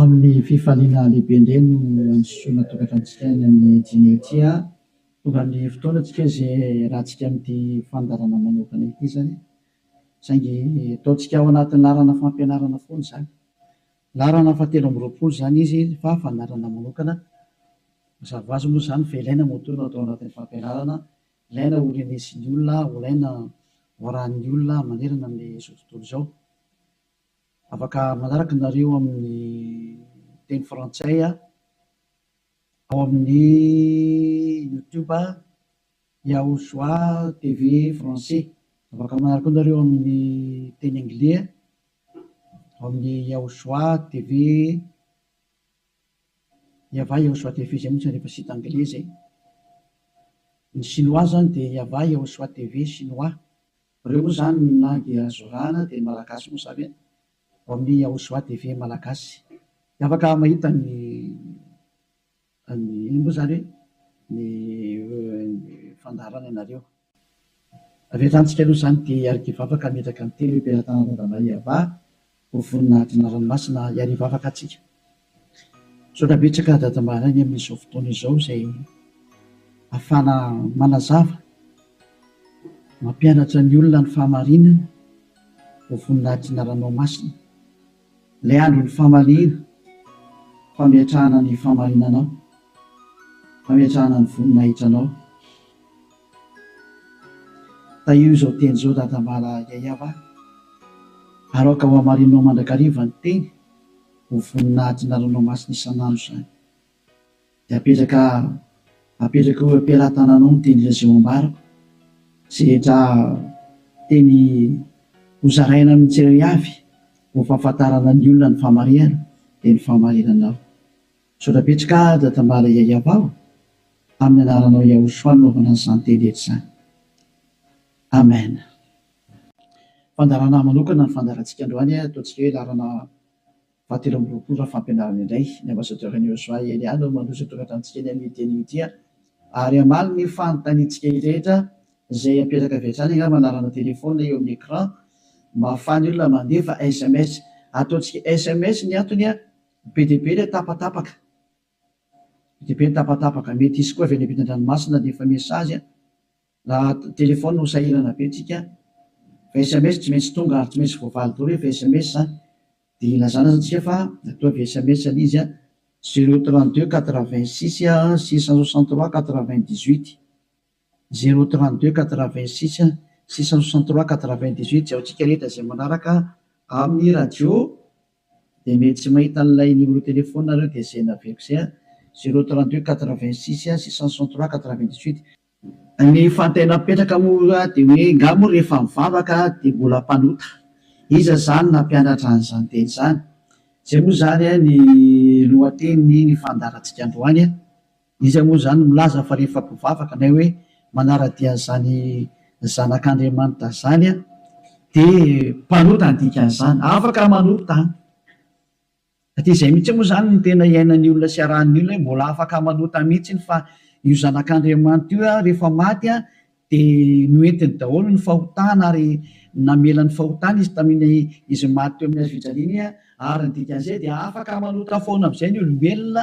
Amin'ny fifaliana lehibe indray no andisoana tokantranontsika any amin'ny Dimy ity a! Tonga ny fotoana antsika izay hiarahantsika amin'ity fandaharana manokana ity izany, saingy ataontsika ao anatin'ny laharana fampianarana foana izany. Laharana fahatelo amby roapolo izany izy fa fandaharana manokana. Mazava ho azy moa izany fa ilaina moa toa no atao anatin'ny fampianarana, ilaina ho renesin'ny olona, ho ilaina ho arahin'ny olona manerana amin'izao tontolo izao. Afaka manaraka nareo amin'ny teny frantsay ao amin'ny youtube Yahoshua TV français. Afaka manaraka koa nareo amin'ny teny anglais ao amin'ny Yahoshua TV Yavah Yahoshua TV zay montsy rehefa site anglais zay. Ny chinois zany dia Yavah Yahoshua TV chinois. Reo moa zany na dia zorana dia ny malagasy moa zany e! Vao miha ho soa TV malagasy dia afaka mahita ny ny inona moa zany hoe ny fandaharana anareo. Avy hatrany tsika aloha zany dia hiarikivavaka hametraka ny telo eo am-pelatanan'i Randamariava Ho vonona hadina ranomasina hiary hivavaka atsika. Misaotra betsaka Dada Mbaraigny amin'izao fotoana izao izay afahana manazava, mampianatra ny olona ny fahamarinana. Ho vonona hadina ranomasina. Ilay andron'ny famaliana, fametrahana ny fahamarinanao, fametrahana ny voninahitranao. Tahio izao teny izao dadambala Yayab a! ary aoka ho hamarininao mandrakariva ny teny ho vonona hahatonga ranomasina isan'andro izany. Dia apetraka apetraka eo am-pelatananao ny teny Lazao ambarako izay rehetra teny hozaraina amin'ny tsirairavy ho fahafantarana ny olona ny fahamarihana dia ny fahamarinanao. Misaotra betsaka Dadambala Yayavao amin'ny anaranao Yahoshua nanaovana an'izany teny rehetra izany. Amen. Fandaharana manokana ny fandaharantsika androany, ataontsika hoe laharana fahatelo amby roapolo raha fampianarana indray. Ny Ambassadeur an'i Yahoshua Elia no mandroso hitondra tamintsika ny amin'io teny io ity ary ary hamaly ny fanontaniantsika rehetra izay apetaka avy hatrany angamba anarana téléphone eo amin'ny écran mba ahafahan'ny olona mandefa sms. Ataontsika sms ny antony. Be dia be ilay tapatapaka. Be dia be ny tapatapaka. Mety hisy koa avy any ampitan-dranomasina dia efa message an. Raha telefaonina no sahirana be tsika an. Fa sms tsy maintsy tonga ary tsy maintsy voavaly daholo rehefa sms an. Dia ilazana aza tsika fa matoa avy sms ilay izy an. Zero trente deux quatre vingt six six cent soixante trois quatre vingt dix huit. Zero trente deux quatre vingt six six cent soixante trois quatre vingt dix huit Jaontsika rehetra izay manaraka amin'ny radio dia mety tsy mahita an'ilay numéro téléphone nareo dia izay naveriko izay an! Zero trente deux quatre vingt six six cent soixante trois quatre vingt dix huit. Ny fantay napetraka moa dia hoe nga moa rehefa mivavaka dia mbola mpanota? Iza izany nampianatra an'izany teny izany? Izay moa izany ny lohatenin'ny fandaharantsika androany an! Iza moa izany milaza fa rehefa mpivavaka na hoe manara-dia an'izany Zanak'Andriamanitra izany dia mpanota ny dikan'izany? Afaka manota an! Ka dia izay mihitsy moa izany no tena iainan'ny olona sy iarahan'ny olona hoe mbola afaka manota mihitsy fa io Zanak'Andriamanitra io rehefa maty dia noentiny daholo ny fahotana ary namela ny fahotana izy tamin'ny izy maty teo amin'ny hazofijaliana ary ny dikan'izay dia afaka manota foana amin'izay ny olombelona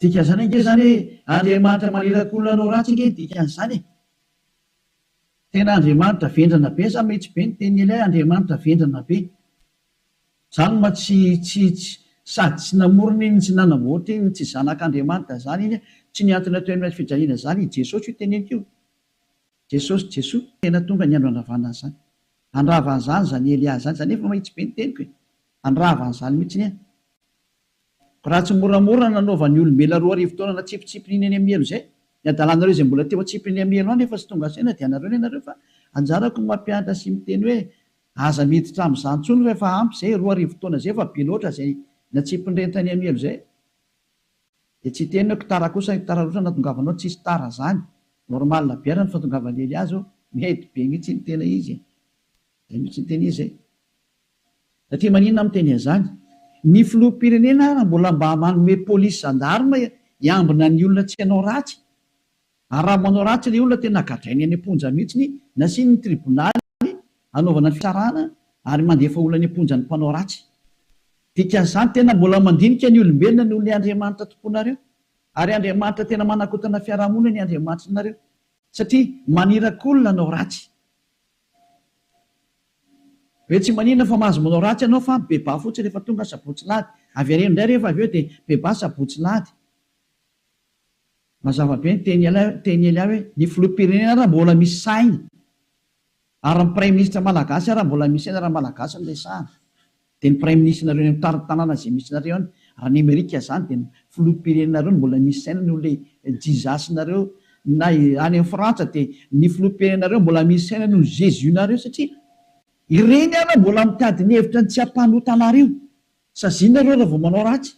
Dikan'izany ange izany hoe Andriamanitra maniraka olona hanao ratsy ange ny dikan'izany e! Tena Andriamanitra vendrana be sa mety be ny tenin'ilay Andriamanitra vendrana be? Za no ma tsy tsy tsy sady tsy namorona iny tsy nanamboatra iny tsy zanak'Andriamanitra zany iny tsy niantona teo amin'ilay fijaliana zany i Jesosy io teneniko io Jesosy Jesoa tena tonga ny andro handravana an'izany handrava an'izany zany Elia zany za nefa mahitsy be ny teniko e! handravana an'izany mihitsy anie Raha tsy moramora ny nanaovan'ny olombelona roa arivo taona natsipitsipin'iny eny Amielo izay, ny hadalanareo izay mbola teo an-tsipy eny Amielo any efa tsy tonga saina dia anareo ny anareo fa anjarako ny mampianatra sy miteny hoe aza miditra amin'izany intsony fa efa ampy izay, roa arivo taona izay efa be loatra izay natsipin'ireny tany Amielo izay. Dia tsy hiteny hoe tara kosa ny tara loatra natongavanao, tsisy tara izany, normal be ara ny fahatongavan'i Eliazo, mety be mihitsy ny tena izy e! izay mihitsy ny tena izy e! Satria maninona aho miteny an'izany? Ny filoham-pirenena ary mbola mba manome polisy zandarma hiambina ny olona tsy hanao ratsy? Ary raha manao ratsy ilay olona tena gadrainy any am-ponja mihitsy, nasiany ny tribonaly hanaovana ny fitsarana ary mandefa olona any am-ponja ny mpanao ratsy. Dikan'izany tena mbola mandinika ny olombelona noho ny Andriamanitra tomponareo. Ary Andriamanitra tena manakotana fiarahamonina ny Andriamanitrinareo satria maniraka olona hanao ratsy. Hoe tsy maninona fa mahazo manao ratsy ianao fa bebà fotsiny rehefa tonga sabotsy lahady. Avereno indray rehefa avy eo dia bebà sabotsy lahady. Mazava be ny teny teny Elia hoe ny filoham-pirenena ary mbola misy sainy ary ny praiminisitra malagasy ary mbola misy sainy raha malagasy no resahana. Dia ny praiminisitra-nareo any amin'ny tany tanàna izay misy nareo any, raha ny amerika izany dia ny filoham-pirenenareo no mbola misy saina noho ilay Jesus-nareo, na any amin'ny frantsa dia ny filoham-pirenenareo mbola misy saina noho ny Jesus-nareo satria ireny ary no mbola mitady ny hevitra ny tsy hampanota anareo, saziana nareo raha vao manao ratsy,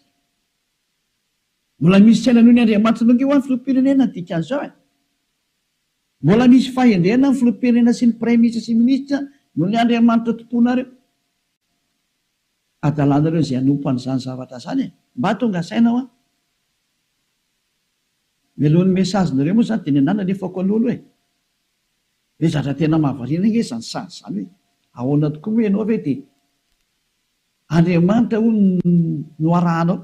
mbola misy saina noho ny Andriamanitra nongeo any filoham-pirenena ny dikan'izao e! Mbola misy fahendrena ny filoham-pirenena sy ny praiminisitra sy ny minisitra noho ny Andriamanitra tomponareo. Adalanareo izay hanompo an'izany zavatra izany e! Mba tonga saina hoa. Mialohan'ny message nareo moa zany dia nenà nalefako aloha aloha e! Ry zatra tena mahavariana nge izany sazy izany hoe ahoana tokoa moa ianao ve dia Andriamanitra hono no arahanao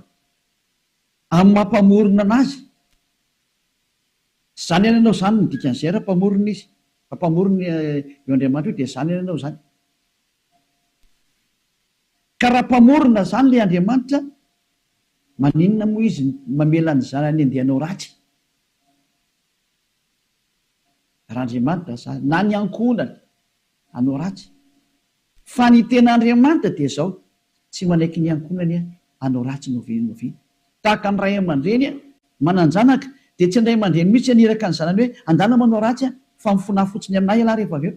amin'ny maha mpamorona anazy? Zany ihany ianao zany no dikan'izay raha mpamorona izy, raha mpamorona io Andriamanitra io dia zany ihany ianao zany. Ka raha mpamorona zany le Andriamanitra maninona moa izy mamela ny zanany andeha hanao ratsy? Raha Andriamanitra zany na ny ankohonany hanao ratsy. Fa ny tena Andriamanitra dia zao, tsy manaiky ny ankohonany hanao ratsy na oviana na oviana. Tahaka ny ray aman-dreny manan-janaka dia tsy ny ray aman-dreny mihitsy haniraka ny zanany hoe andana manao ratsy fa mifona fotsiny amin'ahy ialahy rehefa avy eo.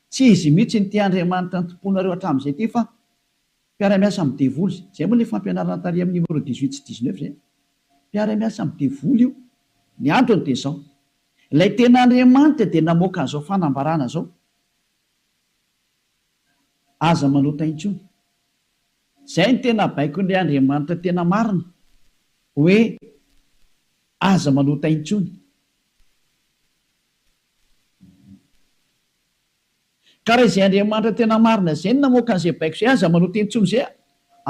Tsy izy mihitsy no tia Andriamanitra antomponareo hatramin'izay ity fa mpiara-miasa amin'ny devoly izay. Izay moa ilay fampianarana tary amin'ny numéro dix huit sy dix neuf izay. Mpiara-miasa amin'ny devoly io. Ny antony dia izao. Ilay tena Andriamanitra dia namoaka an'izao fanambarana izao. Aza manota intsony. Izay no tena baikon'ilay Andriamanitra tena marina. Hoe aza manota intsony. Ka raha izay Andriamanitra tena marina izay no namoaka an'izay baiko izay, aza manota intsony izay a!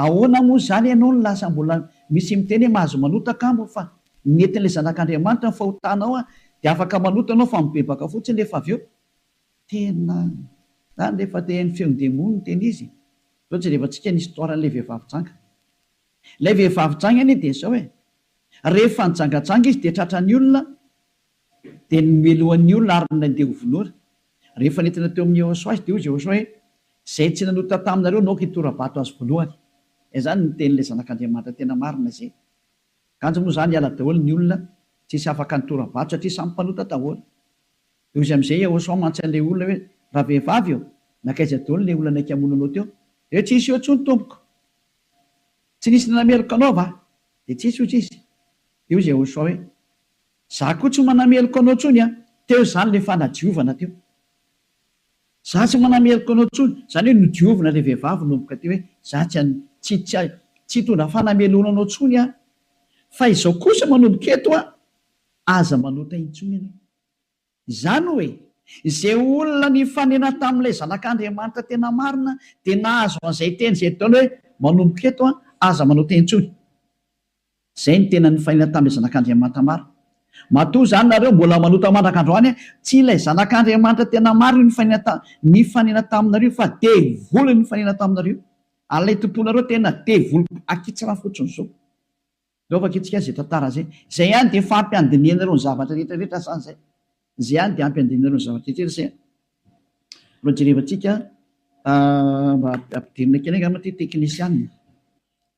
Ahoana moa izany ianao no lasa mbola misy miteny hoe mahazo manota kamo fa ny entin'ilay Zanak'Andriamanitra no fahotanao a! Dia afaka manota ianao fa mibebaka fotsiny rehefa avy eo. Tena izany re fa te haino feon'ny demony ny tena izy e! Izao jerevantsika ny histoire an'ilay vehivavy janga. Ilay vehivavy janga anie dia izao e! Rehefa nijangajanga izy dia tratran'ny olona Dia nomelohan'ny olona ary nandeha ho vonoina. Rehefa nentina teo amin'i Jehosoa azy, dia hoy Jehosoa hoe, Izay tsy nanota taminareo no aoka hitora-bato azy voalohany. Dia izany no nitenin'ilay Zanak'Andriamanitra tena marina izay. Kanjo moa izany hiala daholo ny olona, tsy hisy afaka nitora-bato satria samy mpanota daholo. Dia hoy izy amin'izay, Jehosoa mantsy an'ilay olona hoe, Ravehivavy ô, nankaiza daholo ilay olona naika hamono anao teo? Dia hoe, Tsy nisy eo intsony, tompoko. Tsy nisy nanameloka anao va? Dia tsy nisy, hoy izy. Dia hoy Jehosoa hoe, Za koa tsy manameloka anao tsony an! Teo zany le fanadiovana teo. Za tsy manameloka anao tsony, zany hoe nodiovina le vehivavy nomboka teo hoe za tsy an, tsy, tsy, tsy hitondra fanameloana anao tsony aho. Fa izao kosa manomboka eto an! Aza manota intsony ianao. Izany hoe, izay olona nifanena tamin'ilay Zanak'Andriamanitra tena marina dia nahazo an'izay teny izay Edona hoe, Manomboka eto, aza manao teny intsony. Izay no tena nifanena tamin'ilay Zanak'Andriamanitra marina. Matoa izany nareo mbola manota mandraka androany, tsy ilay Zanak'Andriamanitra tena marina io nifanena nifanena taminareo fa devoly no nifanena taminareo. Ary ilay tomponareo tena devoly akitsra fotsiny izao. Ndao vakitsika izay tantara izay. Izay ihany dia efa ampy handinihana ireo ny zavatra rehetra rehetra sa izay? Izay ihany dia ampy handinihana ireo ny zavatra rehetra rehetra izay? Mba jerevantsika mba ampidirina kely angamba ity teknisianina.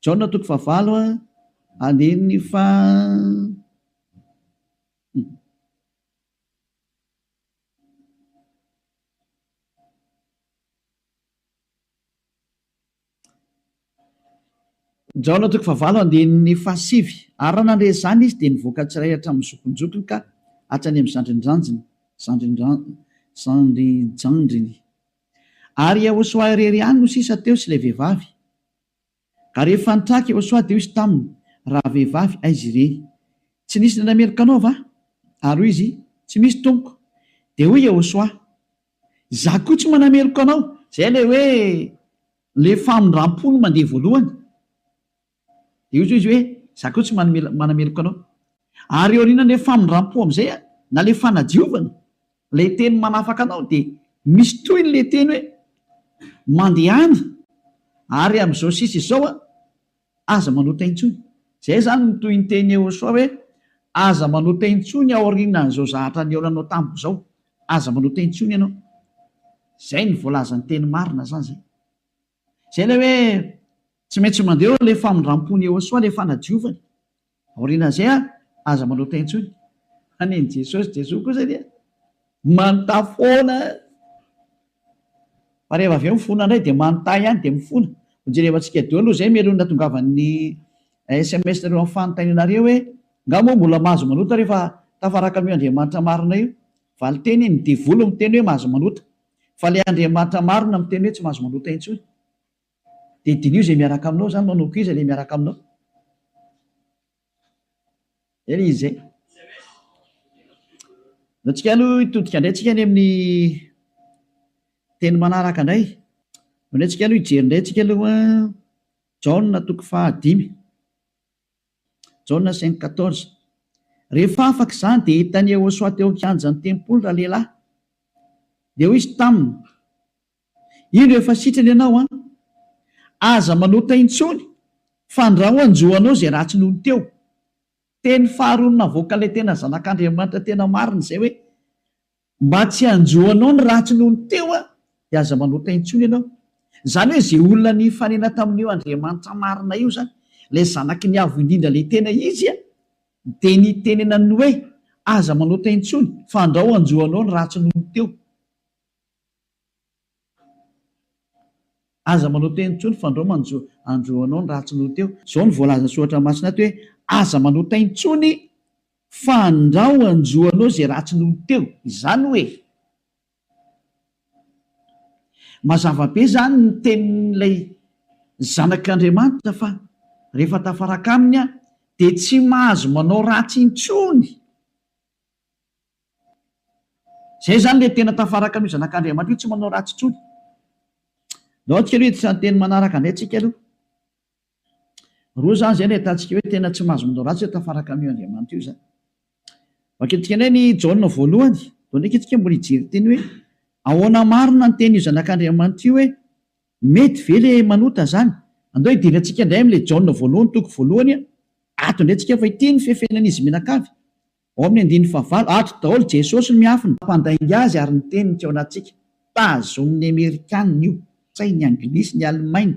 Jaona toko fahavalo andininy faha. Jaona toko fahavalo andininy fahasivy Ary raha nandre izany izy, dia nivoaka tsirairay hatramin'ny zokinjokiny ka hatrany amin'ny zandrinjandriny, zandrinjandriny. Ary Iehosoa irery ihany no sisa teo sy ilay vehivavy. Ka rehefa nitraka Iehosoa, dia hoy izy taminy, Rahavehivavy, aiza ireny? Tsy nisy indray meloka anao va? Ary hoy izy, Tsy misy, tompoko. Dia hoy Iehosoa, Izaho koa tsy manameloka anao. Izay ilay hoe ilay famindram-po no mandeha voalohany. Dia hoy izy hoe, Izaho koa tsy manameloka anao. Ary eo aorianan'ilay famindram-po amin'izay, na ilay fanadiovana, ilay teny manafaka anao, dia misy tohiny ilay teny hoe, Mandehana, ary amin'izao sisa izao, Aza manota intsony. Izay izany no tohin-tenin'i Yehosua hoe, Aza manota intsony aorianan'izao zahatra nihaonanao tamiko izao. Aza manota intsony ianao. Izay no voalazan'ny teny marina izany izay. Izay ilay hoe tsy maintsy mandeha eo ilay famindram-pon'i Yehosua, ilay fanadiovany. Aorianan'izay ary, aza manota intsony an'i Jesosy, Jesoa kosa dia manota foana, fa rehefa avy eo mifona indray dia manota ihany dia mifona. Ho jerevantsika daholo aloha izay meloa ny natongavan'ny sms nareo amin'ny fanontaniana re hoe, nga moa mbola mahazo manota rehefa tafaraka an'io Andriamanitra marina io? Valin-teny, ny devoly miteny hoe mahazo manota, fa ilay Andriamanitra marina miteny hoe tsy mahazo manota intsony. Dia diniho izay miaraka aminao izany manao koa iza ilay miaraka aminao? Zay ilay izy zay. Zao tsika aloha hitodika indray tsika any amin'ny teny manaraka indray. Zao indray tsika aloha hijery indray tsika aloha Jaona toko fahadimy. Jaona cinq quatorze. Rehefa afaka izany dia hitan'i Iehosoa teo an-kianjan'ny tempoly ralehilahy. Dia hoy izy taminy, Indro efa sitrana ianao an! Aza manota intsony fa andraoanjo anao izay ratsy nony teo. Teny faharoany navoaka ilay tena zanak'Andriamanitra tena marina izay hoe, mba tsy hanjo anao ny ratsy nony teo aho dia aza manota intsony ianao. Izany hoe izay olona nifanena tamin'io Andriamanitra marina io izany, ilay zanaky ny Avo Indrindra ilay tena izy an, dia nitenenany ny hoe, aza manota intsony fa andrao hanjo anao ny ratsy nony teo. Aza manao teny intsony fa ndrao manjo andro anao ny ratsy noho teo. Zao no voalazan'ny soratra masina ato hoe aza manao tay intsony fa ndrao anjo anao izay ratsy noho teo. Izany hoe mazava be izany ny tenin'ilay zanak'Andriamanitra fa rehefa tafaraka aminy aho dia tsy mahazo manao ratsy intsony. Izay izany ilay tena tafaraka amin'io Zanak'Andriamanitra io, tsy manao ratsy intsony. Aleo antsika aloha hiditra ny teny manaraka indray tsika aloha. Roa izany izay no ahitantsika hoe tena tsy mahazo manao ratsy, tafaraka amin'io Andriamanitra io izany. Vakintsika indray ny Jaona voalohany, vao ndraika isika mbola hijery teny hoe ahoana marina ny tenin'io Zanak'Andriamanitra io hoe mety ve ilay manota izany. Andao hidiry antsika indray amin'ilay Jaona voalohany, toko voalohany, ato indray tsika fa ity ny fefenan'izy mianakavy. Ao amin'ny andininy fahavalo, ato daholo Jesosy no miafina. Mampandainga azy ary ny teniny tsy ao anatintsika. Tazonin'ny Amerikana io, kay ny Anglisy, ny Alemaina.